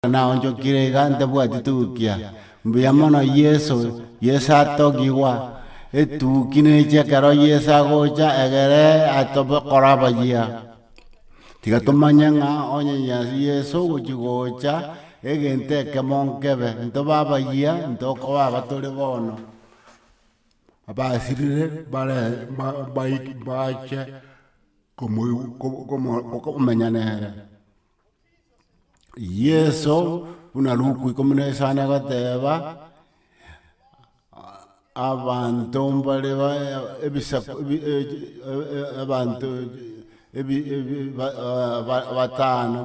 naonchokire iga ntabwati tukia. Mbuya mono Yeso, Yeso atogigwa, etuki neche ekero Yeso agocha egere atobe kora abayia. Tiga tomanye ng'a onye Nyasaye Yeso ogochi gocha, egento ekemo nkebe, ntobe abayia, ntokoba aba tore bono, abasirire bare ba baike bache komoigw komo komenya nere. Yeso buna Luka ikomi na isano agoteba, abanto mbare ebisaku abanto batano,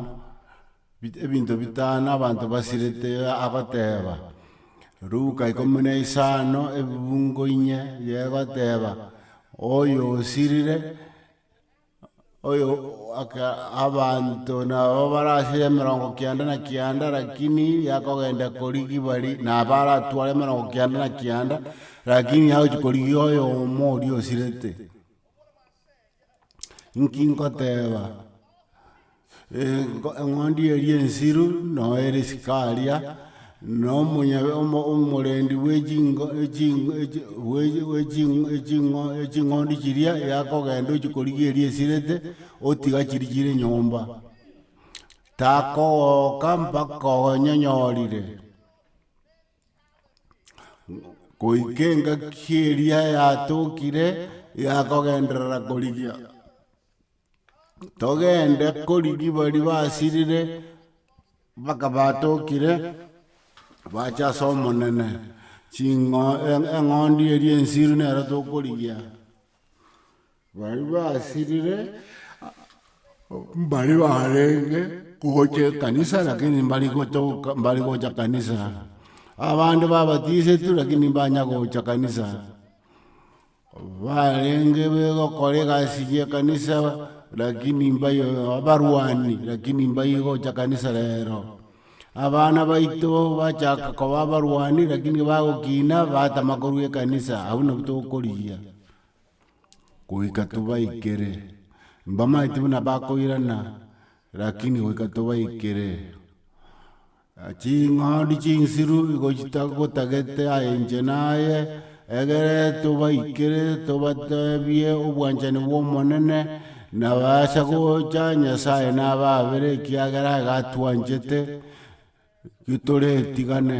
ebinto bitano abanto basirete agoteba, Luka ikomi na isano ebiungo inye, egoteba oyo osirire. oyo aka abanto nabo bare ase emerongo kianda na kianda lakini yakogenda korigi bari na baratware emerongo kianda na kianda lakini agochia korigi oyomo oria osirete inki nkoteba. eng'ondi eria ensiru, noyo ere isiko aria, na omonye omo- omorendi bwe chingo echi echi bwechi bwechi eching'o eching'ondi chiria yakogenda ochia korigia eria esirete, otiga chiria chire nyomba, takogoka mpaka onyenyorire goika engaki eria yatokire, yakogenderera korigia. togende korigi baria basirire, mpaka batokire, bacha ase omonene, ching'o e- eng'ondi eria ensiru nero tokorigia. Baria basirire, mbaria barenge gocha ekanisa lakini mbari gotoka mbari gocha kanisa, abande babatisetwe lakini mbanya gocha kanisa. Barenge begokora egasi y'ekanisa lakini mbayo abarwani lakini mbayo igocha kanisa rero. Abana baito bachaka koba abarwani lakini bagokina batama korwa ekanisa abwo nabo tokorigia goika tobaikere. Mbamaeti buna bakoirana lakini goika tobaikere. Ching'ondi chinsiru igochita gotagete aye inche naye, egere tobaikere tobatebie obwanchani bw'Omonene, nabasa gocha Nyasae nababere ekiagera iga atwanchete, gitoretigane.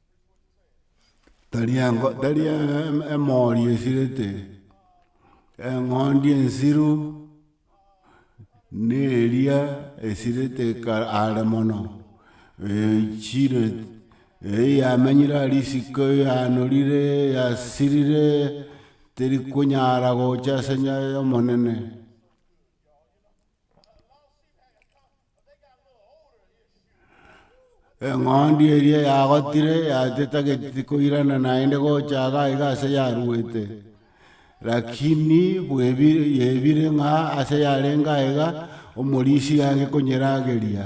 tari engo tari emori esirete, eng'ondi ensiru, ne eria esirete kare are mono echire eyamenyire aria isiko yanorire yasirire teri konyara gocha ase enyayo y'omonene. eng'ondi eria yagotire yate tageti koirana naende gocha iga iga ase yaruete, rakini bwebire yebire ng'a ase yarenge aiga, omorisia aye konyerageria.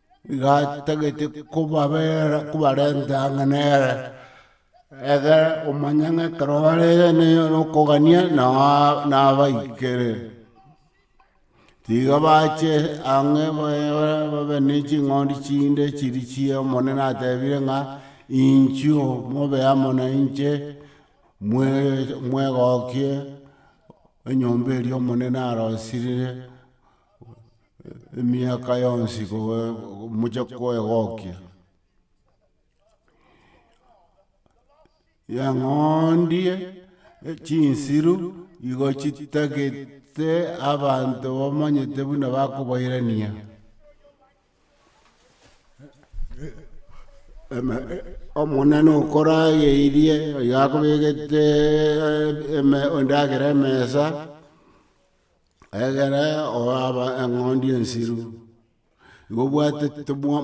gatagete kobabera kobarenta ang'e nere, egere omanye ng'a ekero bare na okogania nao nabaikere. Tiga bache ang'e babe ne ching'ondi chinde chiri chia omonene atebire ng'a inchuo mobe amo na inche mwe mwegokie enyomba eria omonene arosirie. emiaka yonsi moche koegokia. Yang'ondie chinsiru igo chitagete abanto bamanyete buna bakobairania omonene okorageirie oyo akobegete endagera emesa. Egere oaba eng'ondi ensiru, mobwate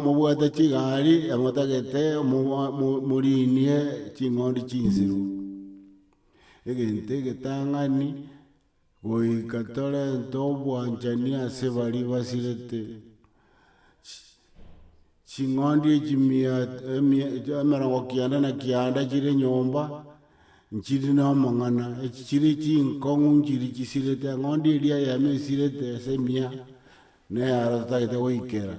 mobwate chigari emotagete moriinie ching'ondi chinsiru, egento egetang'ani goika torente obwanchani ase baria basirete. ching'ondi echimia emia emerongo kianda na kianda chire enyomba, nchiri na amang'ana, echi chiri chinkong'u nchiri chisirete, eng'ondi eria eyemo esirete ase emia, na eyaro totagete goikera,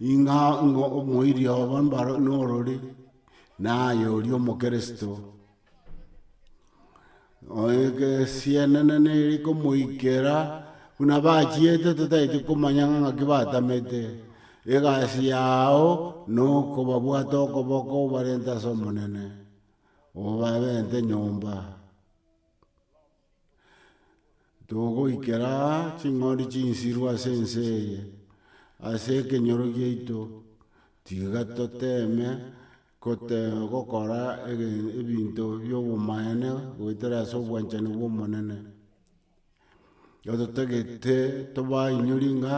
ing'a ing'o omoiri obo mbaro norori, naye oria omokristo. Esianana nere komoikera buna bachiete totaete komanya ng'a ng'aki batamete egasi yao nokobabwate okoboko obarente ase omonene obabente nyomba. Togoikera aa ching'ondi chinsiru ase ense eye, ase ekenyoro giaito, tiga toteme gote gokora ege ebinto bia obomaene goetera ase obwanchani bwa omonene, ototagete tobaainyori ng'a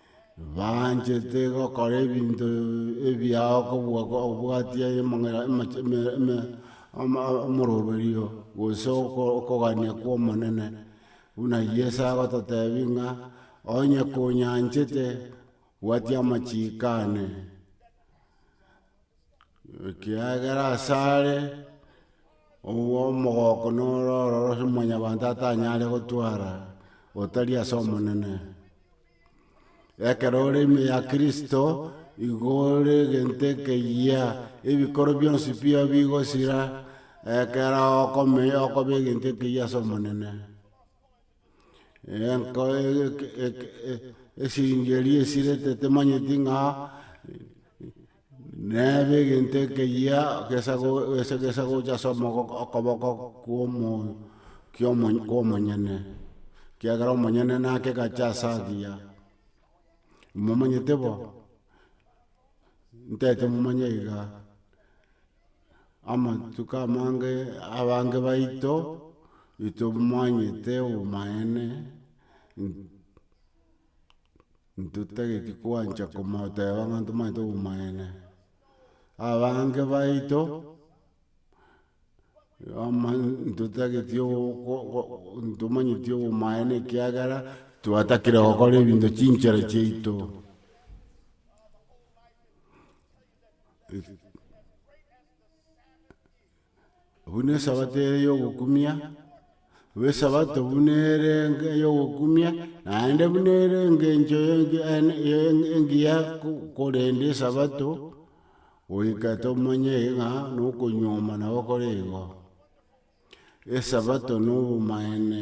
Baanchete gokora ebinto ebiao kobua obwatia emang'ina amache eme eme ama omoroberio gose oko okogania kwa omonene, buna yeso agototebi ng'a onye konyanchete bwatia amachiiko ane. Ekiagera asare omogoko noro ororo ase mwanyabanto atanyare gotwara otari ase omonene. Ekero ore ime ya kristo igo ore egento ekeyia ebikoro bionsi bire bigosira ekero okomenya okoba egento ekeyia ase omonene. esiringi eria esire tetemanyeti ng'a nebe egento ekeyia gesa gesa gesa gocha ase omogoko okoboko kwa omo kia omo kia omonyene ekiagera omonyene nake gacha ase agiya momanyete bo? Ntaete momanya iga. amatuko amange abange baito itomanyete obomaene ntotageti koancha komoteba ng'a ntomanyete obomaene. Abange baito ntotageti ntomanyeti obomaene ekiagera twatakire gokora ebinto chinchera chiaito. buna esabato ere yogokumia, buna esabato buna ere enga yogokumia, naende buna ere engencho ye enga ene ye enga engiya ko- korenda esabato, goika tomanye ng'a nokonyuoma nabo kore igo, esabato na obomaene.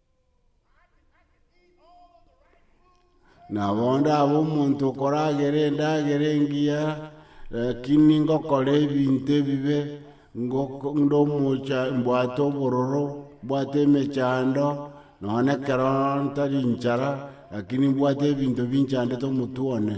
Na bonde abe omonto okoragera endagera engiya, lakini ngokora ebinto ebibe, ngoko- nde omocha mbwate obororo, mbwate emechando, nonye na ekero ntari inchara, lakini mbwate ebinto binchandete omotwe one.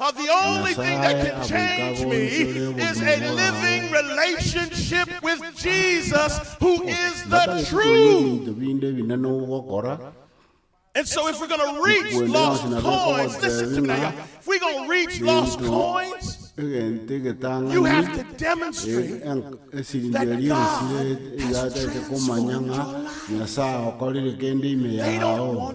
Nyasae agoika agoonchore obogimu bwabo. Batarisikorwa nebinto binde ebinene ogokora, okwenda yonsi na bekogoteebia ng'a gento egento egetang'ani, esiringi eria esire eyatagete komanya ng'a Nyasae agokorire kende ime yao.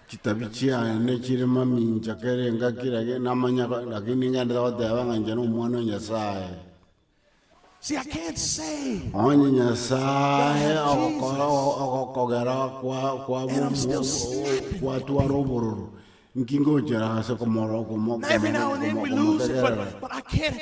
Chitabi chiane nechire mamincha kera engaki, lakini namanya ko- lakini ningende goteba ng'a inche nomwana o Nyasaye. See, I can't say, Onye Nyasaye ogokora ogokogera kwa- kwa- And I'm still snapping. kwatwara obororo, nki ngochera ase komoro- komo- now every now and then we komo- lose it, komotegerera? but, but I can't,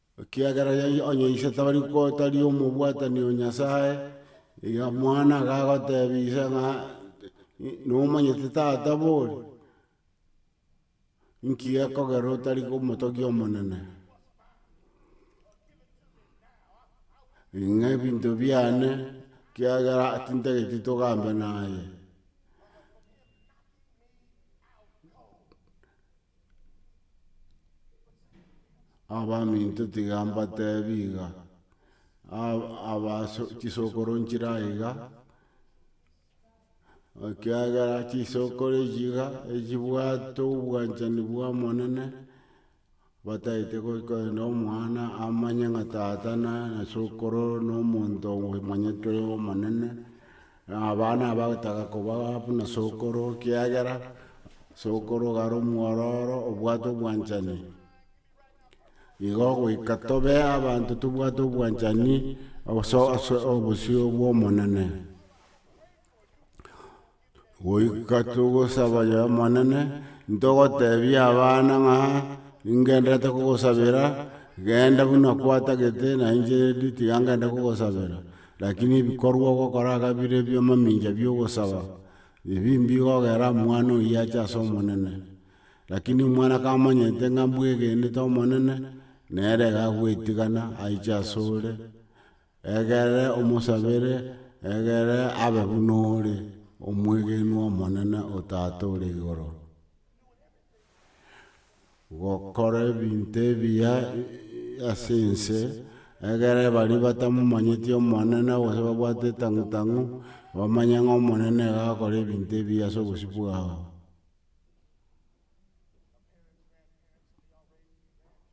Ekiagera Yeso onye ise tari tari omobwatani o Nyasae, iga mwana agagotebia ise ng'a nomonyete tata bori, inki gekogera otari omotogia omonene? Ng'a ebinto biane ekiagera tintageti togambe naye. Abaminto tiga mbatebi iga, chisokoro nchire aye iga, ekiagera chisokoro echi iga echibwate obwanchani bwa omonene, batagete korenda omwana amanye ng'a tata na sokoro na omonto omanyete oyo omonene, Aba nabagotaga koba buna sokoro, ekiagera sokoro iga are omwororo obwate obwanchani. Igo goika tobe abanto tobwate obwanchani ase ase obosio bw'Omonene. Goika togosaba Omonene, ntogotebia abana ng'a ingenderete kogosabera, genda buna kwatagete na inche redi tiga ngende kogosabera. Lakini ebikorwa ogokora iga bire ebi'amamincha bi'ogosaba, ebimbi igogera omwana oyio ache ase Omonene. Lakini omwana kamanyete ng'a mbwegenete Omonene, nere iga agwetigana aiche asore, egere omosabere, egere abe buna ore omwegenwa Omonene o Tata ore igoro. gokora ebinto ebiya ase ense, egere baria batamomanyeti Omonene, gose babwate etang'u tang'u, bamanye ng'a Omonene nigo agakora ebinto ebiya ase obosio bwao.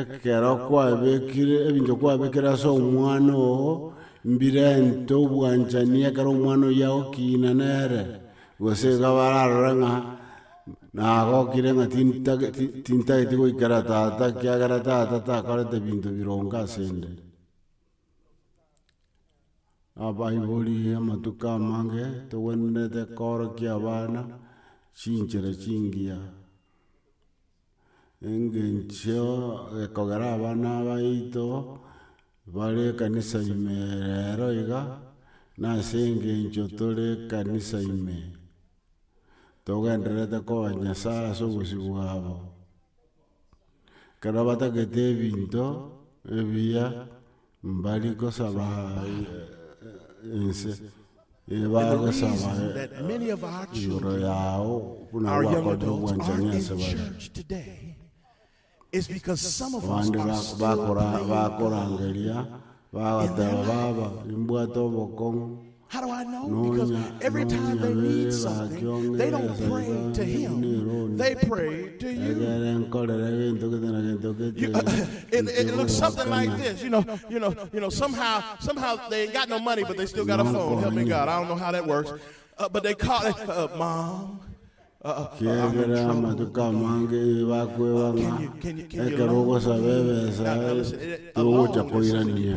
Ekero kwabekire ebinto kwabekire ase omwana oo, mbirente obwanchani ekero omwana oyio agokina nere, gose iga bararore ng'a nagokire ng'a tintake ti- tintageti goikera tata ekiagera tata takorete binto bironge ase 'nde. Abaibori amatuko amange togwenerete koorokia abana chinchera chingiya. engencho ekogera abana abaito bare ekanisa ime rero iga, nase engencho tore ekanisa ime, togendererete koa Nyasae ase obosio bwabo. Ekero batagete ebinto ebiya, Mbari gosaba inse ebagosaba igoro yao buna gwakorire obwanchani ase bare. Abande bakorangeria bagoteba baba imbwate obokong'u. Nonya ekere nkorere gento gete na gento gete kiegere amatuko amange nibakwebang'a ekero ogosaba ebesa togocha koirania.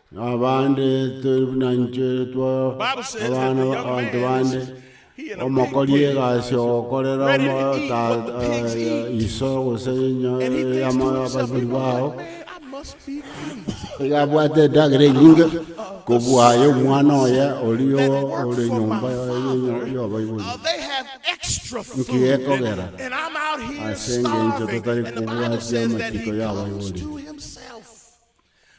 Abande tore buna intwe twao abana b'abanto bande, omokori egasi ogokorera iso gose abaibori bao, iga abwate endagera enyinge kobua aye omwana oye oria ore nyomba y'abaibori. Inki gekogera ase engencho totari kobwatia amachiko y'abaibori?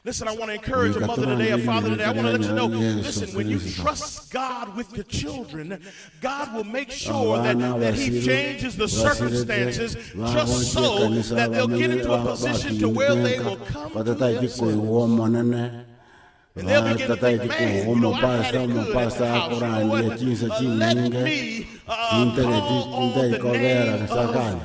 Rika torangerie ring'ana riaino ria Yeso Kristo. Abana abasio basirete bagochie ekanisa abanyene bakingenka batataeti koigwa Omonene, batataeti koigwa omopasta, omopasta akorandia chinsa chinyinge, chintareti chintaikobera sakani.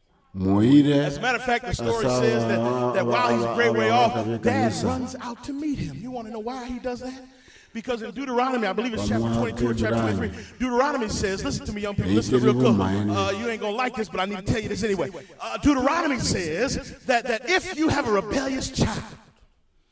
moire as'amagega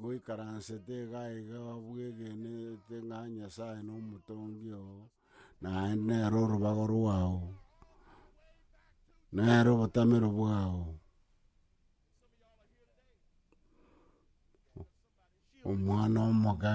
Goikaransete iga iga bwegenete ng'a Nyasae nomotongi oo, naende nere orobago rwao, nere obotamero bwao. Omwana omoke.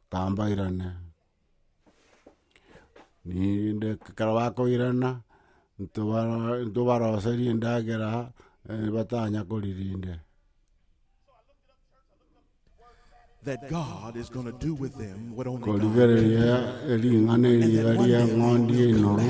Tambairane, rinde ekero bakoirana, intwe bara intwe baroserie endagera batanya koria rinde. that God is going to do with them what only God can do. Korigereria ering'ana eriga ria eng'ondi enoru,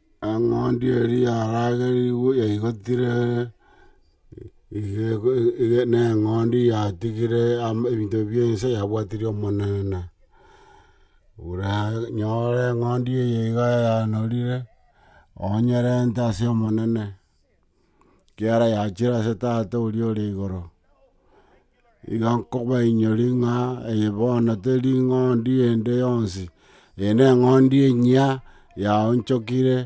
Eng'ondi eria yaragerigwe yaigotire neng'ondi yatigire ebinto bi'ense yabwatirie Omonene. Oranyore eng'ondi eye iga yanorire, onyerente ase Omonene, ekiagera yachire ase Tata oria ore igoro. Iga nkobainyoria ng'a eye bono teri ing'ondi ende yonsi, eye neng'ondi enyia, yaonchokire,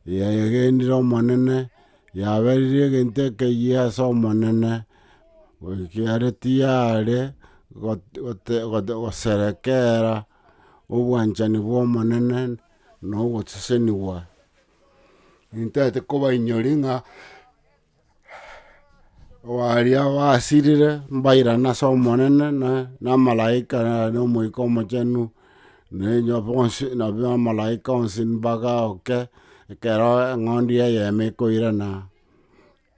yagenire Omonene, yaberire egento ekeyia ase Omonene, ekiagera tiyare goserekera obwanchani bw'Omonene na ogosesenigwa. Intete kobainyoria ng'a. Obaria basirire mbairane ase Omonene, na na amalaika na Omoika Omochenu, na enyo bonsi na bamalaika onsi mbagaoke, ekero eng'ondi ya eyemo ekoirana,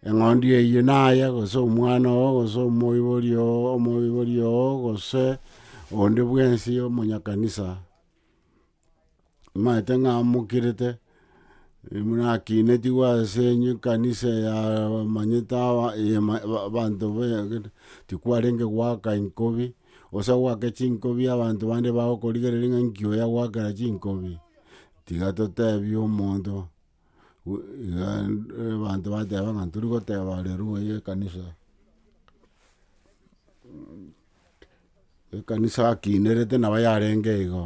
eng'ondi eyio naye gose omwana oo gose omoibori oo omoibori oo gose onde bwensi omonyakanisa. Maete ng'amokerete, nakinetigwe as'enye ekanisa eyamanyete abanto tikwarenge goaka inkobi, gose goaka chinkobi abanto bande bagokorigereria ng'a inki oyo agoakera chinkobi? Tiga totebie omonto abanto bateba ng'a tori goteba are rugoro ye ekanisa. Ekanisa akinerete nabo yarenge igo,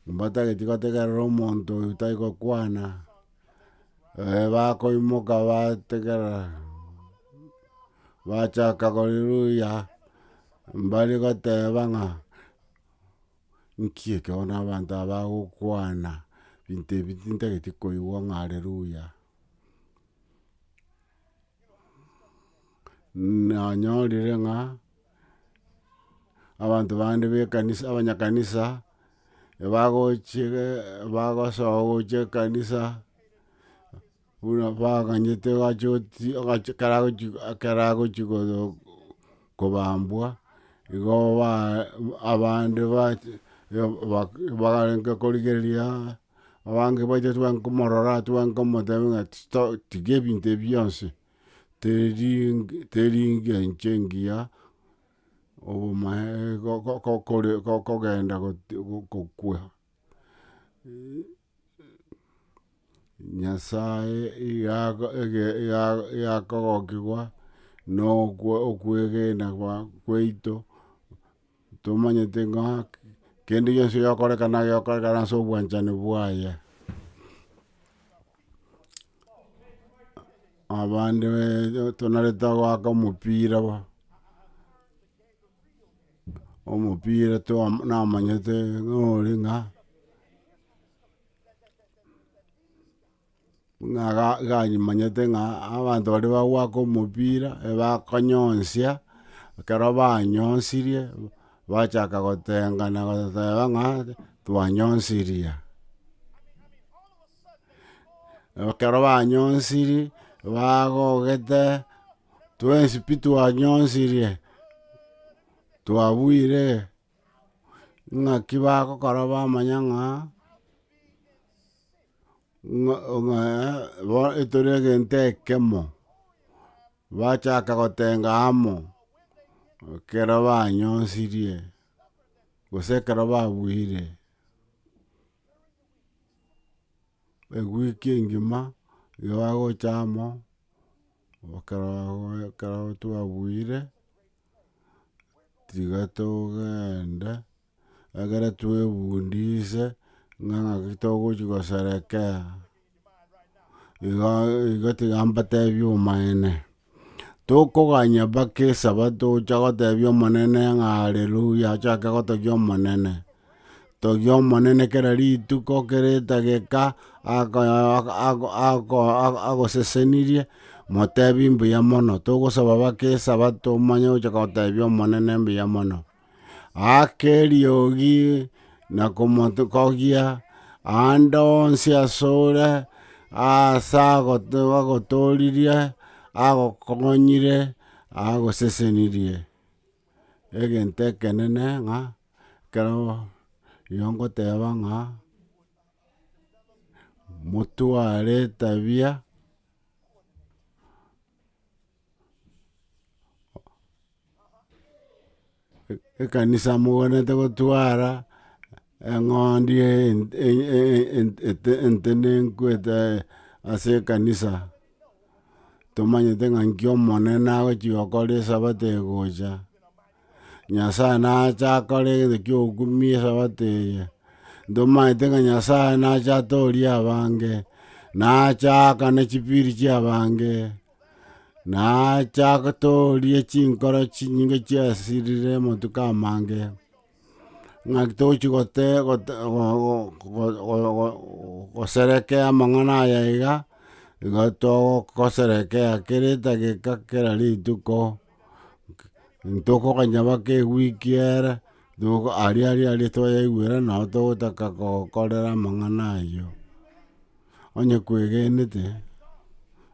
mbatageti gotegerera omonto oyo tai gokwana, bakoimoka bategerera, bachaka gori ruya, mbare goteba ng'a. Nki ekero na abanto aba bagokwana ebinto ebi tintageti koigwa ng'a Haleluya. Nanyorire ng'a abanto bande ba ekanisa abanyakanisa ebagochire bagosoa gocha ekanisa. Buna baganyete ekero agochia agochia kobambwa, igo ba abande baarenge korigereria, abange bache twanke komorora twanke omotebia ng'a to tiga ebinto ebi bionsi, teri teri engiya enche engiya, obomae kogenda gokwa. Nyasae igakogokigwa nokwegena kwaito, tomanyete ng'a kende gionsi gegokorekana gegokorekana ase obwanchani bwaye. Abande tonarete goaka omopira. omopira toa- namanyete ng'a ore ng'a, ng'a ga- ganyimanyete ng'a abanto baria bagwaka omopira ebakonyonsia, ekero banyonsirie, bachaka gotengana goteba ng'a twanyonsirie aa. Ekero banyonsirie, bagogete. Twensi pi twanyonsirie, twabuire, ng'aki bagokora bamanya ng'a ng'a ng'a bo etore egento ekemo, bachaka gotenga amo ekero banyonsirie gose ekero babuire. Ewiki engima igo bagocha amo. Ekero twabuire, tiga togende, ekero twebundise ng'a ng'aki togochi koserekea, igo igo tiga mbatebie omonene, tokoganya mpaka esabato ocha gotebia omonene ng'a Haleluya, achake gotogia omonene. Togia Omonene kera rituko, kera etageka agosesenirie, motebie mbuya mono. Togosaba bake Esabato omanye gocha gotebia Omonene mbuya mono. Aka eriogi na komogokia aande onsi asore, aase agotoririe, agokonyire, agosesenirie. Egento ekenene ng'a. Ekero rirorio ngoteba ng'a motware etabia ekanisa moganete gotwara eng'ondi entenenku ase ekanisa tomanyete ng'a nki omonene agochi gokora esabato egocha. Nyasae nache akore egento ki'ogokumi esabato eye, ntomanyete ng'a Nyasae nache atorie abange, na ache aakane chipiri chi'abange, na ache atorie chinkoro chinyinge chiasirire amatuko amange, ng'aki tochi gote gote goserekea amang'ana aya iga, igo togoserekea kera etageka kera rituko. ntokoganya bake ewiki ere, toko- aria aria aria twayaigwera nabo togotaka gokorera amang'ana ayio. Onye kwegenete,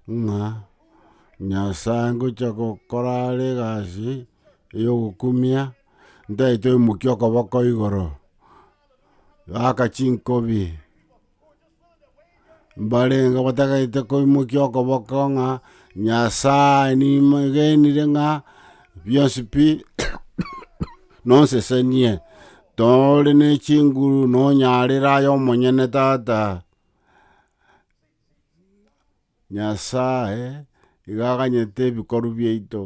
ng'a nyasae ngocha gokora are egasi ya ogokumia, ntaete omokia okoboko igoro, gaka chinkobi. mbarenge batagaete koimokia okoboko ng'a Nyasae nimagenire ng'a bionsi pi nonsesenie, tore ne chinguru nonyarera aye omonyene tata. Nyasae iga aganyete ebikorwa biaito,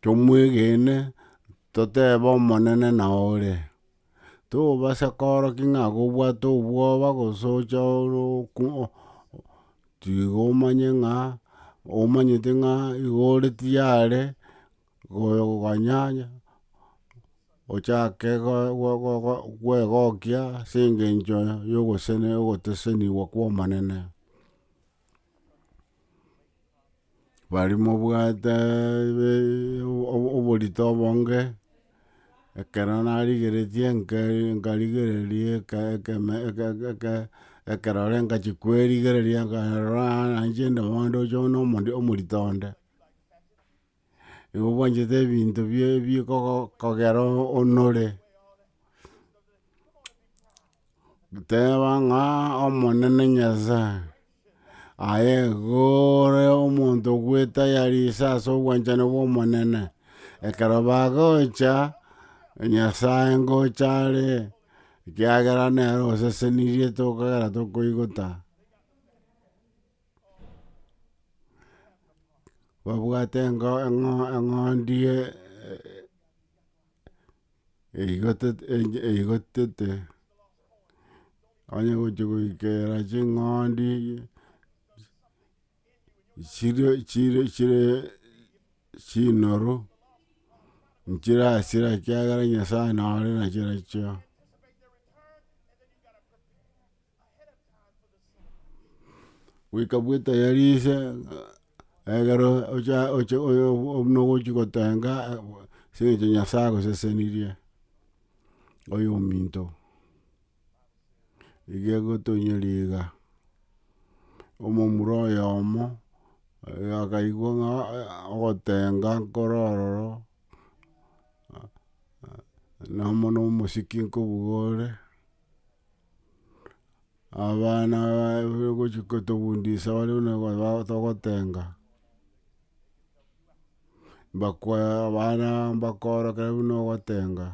tomwegene, totebe Omonene nao ore. Tobasa koorokia ng'a gobwate obwoba gose oche ore oku tiga omanye ng'a omanyete ng'a iga ore tiyare. gokonyanya, ochake kwegokia ase engencho yo ogosesenigwa kwa Omonene. Bari mobwate oborito obonge, ekero narigeretie nkarigereria ekerore ngachia kwerigereria nkarora naende ndoche omorito onde. nigo obwanchete ebinto bie bikogo kogera onore, teba ng'a omonene nyasae, aye igo ore omonto ogwetayarisa ase obwanchani bwa omonene, ekero bagocha nyasae ngocha are, ekiagera nere osesenirie tokogera tokoigota. babwate eng'o- eng'o- eng'ondi e- eigotet- ege- eigotete, onye gochia goikera ching'ondi chirio chirio chire chinoru, nchirasira ekiagera nyasaye nore nachio nachio. Goika bwetayari ise egero ocha ocha buna ogochia gotenga ase eng'encho Nyasaye agosesenirie oyo ominto. Igo egotonyora iga, omomura oyomo akaigwa ng'a ogotenga nkoro ororo nomo na omosike nkobuga ore. Abana gochia kotobundisa baria buna ba togotenga. Mbakwa abana mbakoro kere buna ogotenga.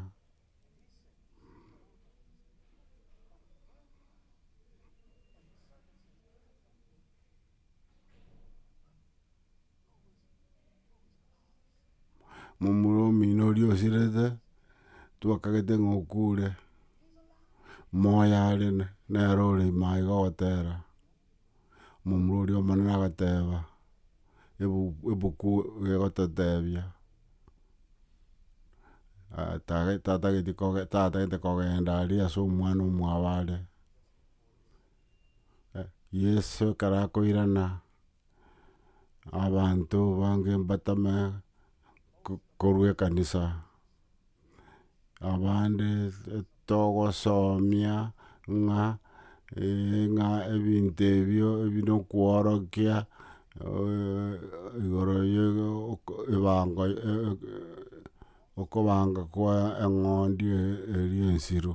momura omino oria osirete, twakagete ng'a okure, moyo are nere ore ime aye gotera, momura oria omonene agateba, ebuku egototebia, tatagete tatagete kogenda aria ase omwana omwabo are, Yeso ekero akoirana. abanto bange mbatame korwa ekanisa, abande togosomia ng'a ng'a ebinto ebio ebi na okworokia igoro ya ebango okobanga kwa eng'ondi eria ensiru.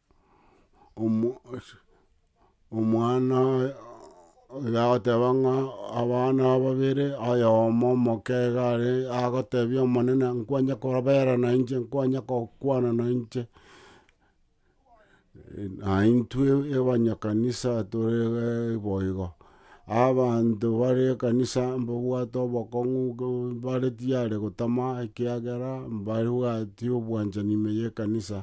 omwana oye agoteba ng'a abana babere, oyomo omokega are agotebia omonene nkwanja korabera na inche, nkwanja gokwana na inche. Aye intwe abanyakanisa tore iga boigo, abanto bare ekanisa mbabwate obokong'u bare tiyare gotama ekiagera mbabwati obwanchani ime y'ekanisa.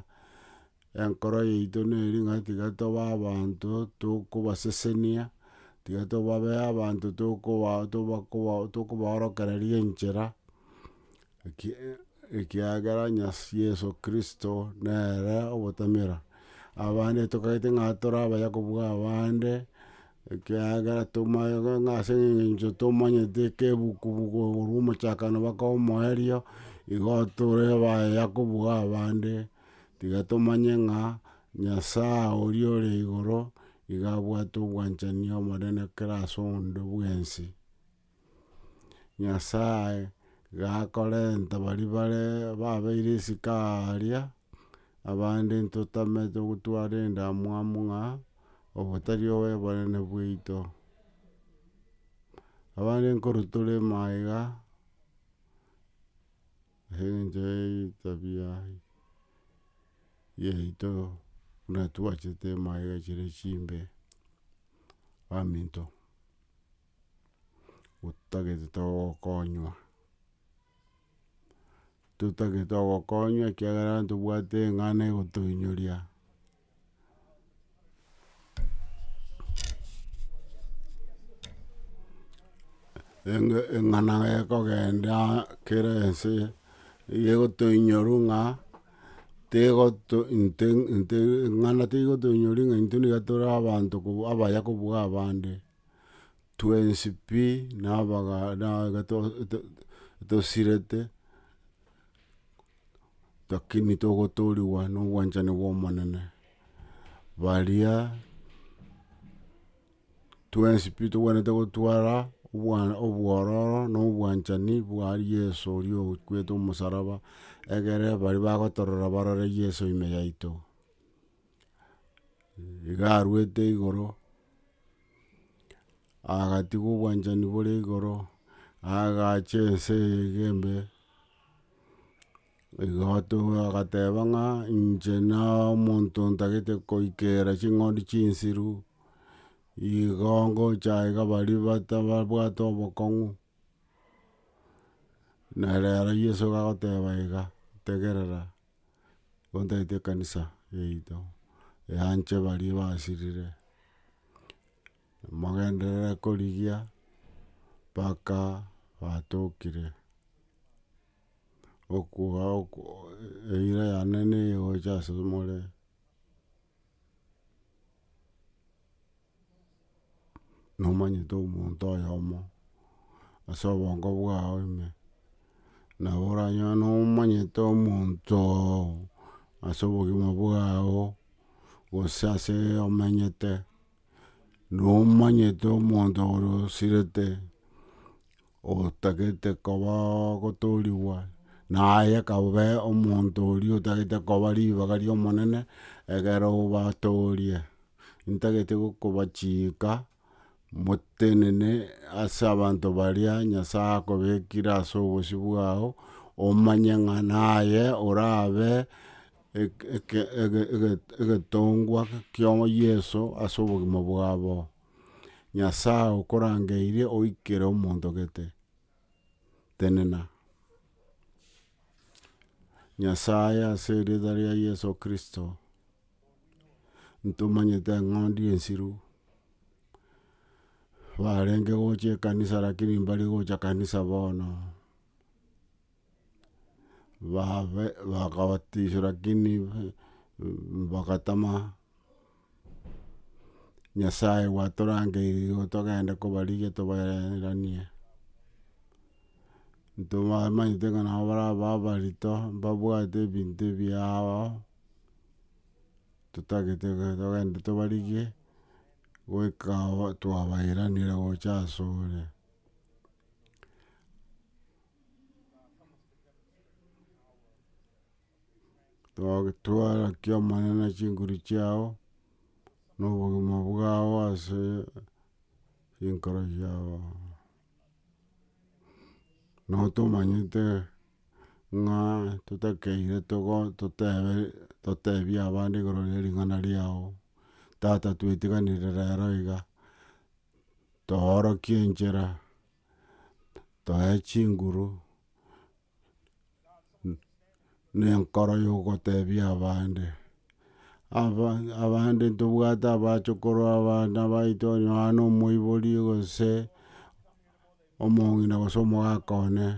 Enkoro yaito neri ng'a tiga tobe abanto tokobasesenia, tiga tobabe abanto tokoba toba koba tokobaorokereria enchera, eki ekiagera Nyas Yeso Kristo nere obotamera. Abande tokagete ng'a tore abayakobua abande, Ekiagera tomoeoga ng'a ase engencho tomanyete ekebuku korwa omochakano baka omoerio, igo tore abayayi akobuga abande, tiga tomanye ng'a Nyasae oria ore igoro iga abwate obwanchani omonene kera ase onde bwensi. Nyasae gakorenta baria bare babeire isiko aaria, abande ntotamete gotwara endamwamu ng'a obotari obwebarene bwaito. Abande nkoro torema aiga, ase engencho ya etabia yaito buna twachete maiga chire chimbe. Aminto. otagete togokonywa, totagete togokonywa ekiagera ntobwate eng'ana egotoinyoria. Enge eng'ana gekogenda kera ense egotoinyora ng'a tegoto inte inte eng'ana teigotoinyori ng'a intwe niga tore abanto abaya kobua abande. twensi pi na tosirete, lakini togotoorigwa nobwanchani bw'Omonene. Baria twensi pi togwenerete gotwara obwororo na obwanchani bwa Yeso oria okwete omosaraba, egere baria bagotorora barore Yeso ime yaito. Iga arwete igoro, agatigwa obwanchani bore igoro, agacha ense eye iga embe, igo agateba ng'a inche na omonto ntagete koikera ching'ondi chinsiru, igo ngocha iga baria batabwate obokong'u, na rero Yeso iga agoteba iga, tegerera. Gotaete ekanisa yaito eanche baria basirire, mogenderere korigia mpaka batokire, eira yane nigo egocha asore more. nomanyete omonto oyomo ase obongo bwao ime, nabo oranyore nomanyete omonto oo ase obogima bwao, gose ase omenyete, nomanyete omonto ore osirete. Otagete koba ogotoorigwa, na aye kabe omonto oria otagete koba ribaga ri'Omonene, egere obatoorie. Intagete gokobachiika motenene ase abanto baria Nyasae akobekire ase obosio bwao, omanye ng'a naye orabe egetongwa kia Yeso ase obogima bwabo. Nyasae okorangeirie oikere omonto gete, tenena. Nyasae ase erieta ria Yeso Kristo, ntomanyete eng'ondi ensiru, barenge gocha ekanisa lakini mbari gocha kanisa bono, babe bakabatiswa lakini bagatama Nyasaye gwatorangeire igo togende kobarigia tobaereranie, ntobamanyete ng'a nabo baraba abarito, mbabwate ebinto ebiao, totagete iga togende tobarigie, goika aho twabaeranire gocha asore. Twatwara ki'Omonene chinguru chiao, na obogima bwao ase chinkoro chiabo. Nabo tomanyete ng'a totakeire togo totebe totebie abande igoro ria ring'ana riao, Tata twetiganire rero iga, toorokie enchera, toe chinguru. nenkoro yogotebia abande. Abande ntobwate abachokoro abana baito onye nonya na omoibori gose omong'ina gose omogaka one,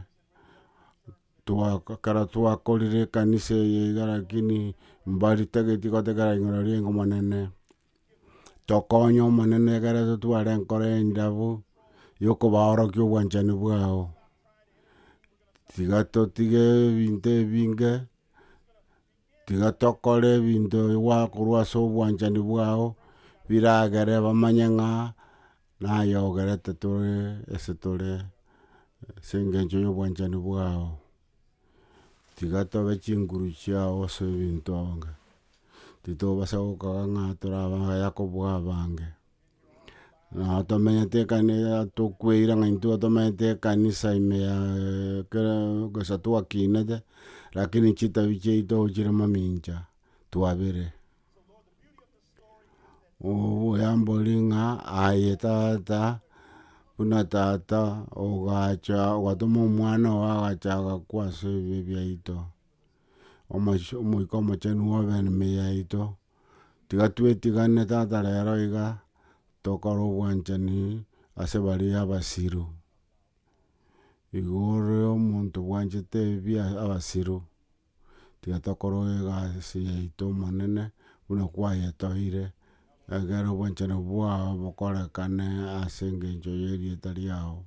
ekero twakorire ekanisa eye iga lakini mbari tageti gotegerera igoro riaye monene. tokonye Omonene ekero totware enkoro endabu, yokobaorokia obwanchani bwao, tiga totige ebinto ebinge, tiga tokore ebinto gwa korwa ase obwanchani bwao, biragere bamanye ng'a naye ogerete tore ase tore, ase engencho ya obwanchani bwao. Tiga tobe chinguru chiao ase ebinto onge, titobasa gokoa ng'a tore abaya kobua abange, nabo tomenyete ekani tokweire ng'a intwe tomenyete ekanisa ime ya ekero gose twakinete, rakini chitabi chiaito chire mamincha twabire. Oyambori ng'a aye tata, buna tata ogacha ogatoma omwana oo agacha agakwa ase ebibe biaito, omoisho omoika omochenu obe ne ememe yaito, tiga twetigane tata rero iga, tokore obwanchani ase baria abasiru, igo ore omonto bwanchete ebi abasiru. tiga tokoroe egasi yaito Omonene, buna kwayetoeire, ekeero obwanchani bwao bokorekane ase engencho y'erieta riao.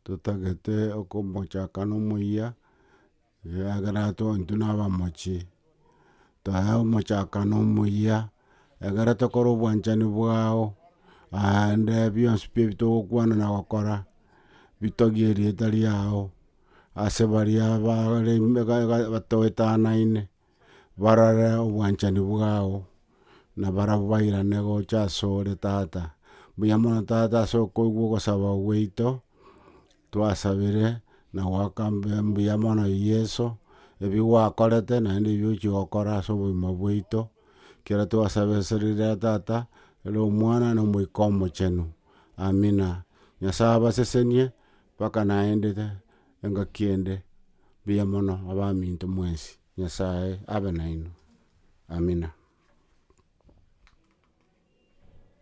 Totagete okomochaka nomoyia. Ekiagera twe intwe nabamochie, taya omochakano omuya, ekero tokora obwanchani bwao, aande bionsi pi ebitogokwana na gokora, bitogie erieta riao, ase baria abare batoetanaine, barore obwanchani bwao, na barabwo bairane gocha asore tata. Mbuya mono tata ase okoigwa ogosaba gwaito, Twasabire na goaka mbuya mono Yeso, ebi gwakorete naende ebi ochia gokora ase obogima bwaito, ekero twasaba ase rire ya Tata, ere Omwana, na Omoika Omochenu. Amina. Nyasae abasesenie mpaka naende engaki ende. Mbuya mono abaminto mwensi. Nyasae abe nainwe. Amina.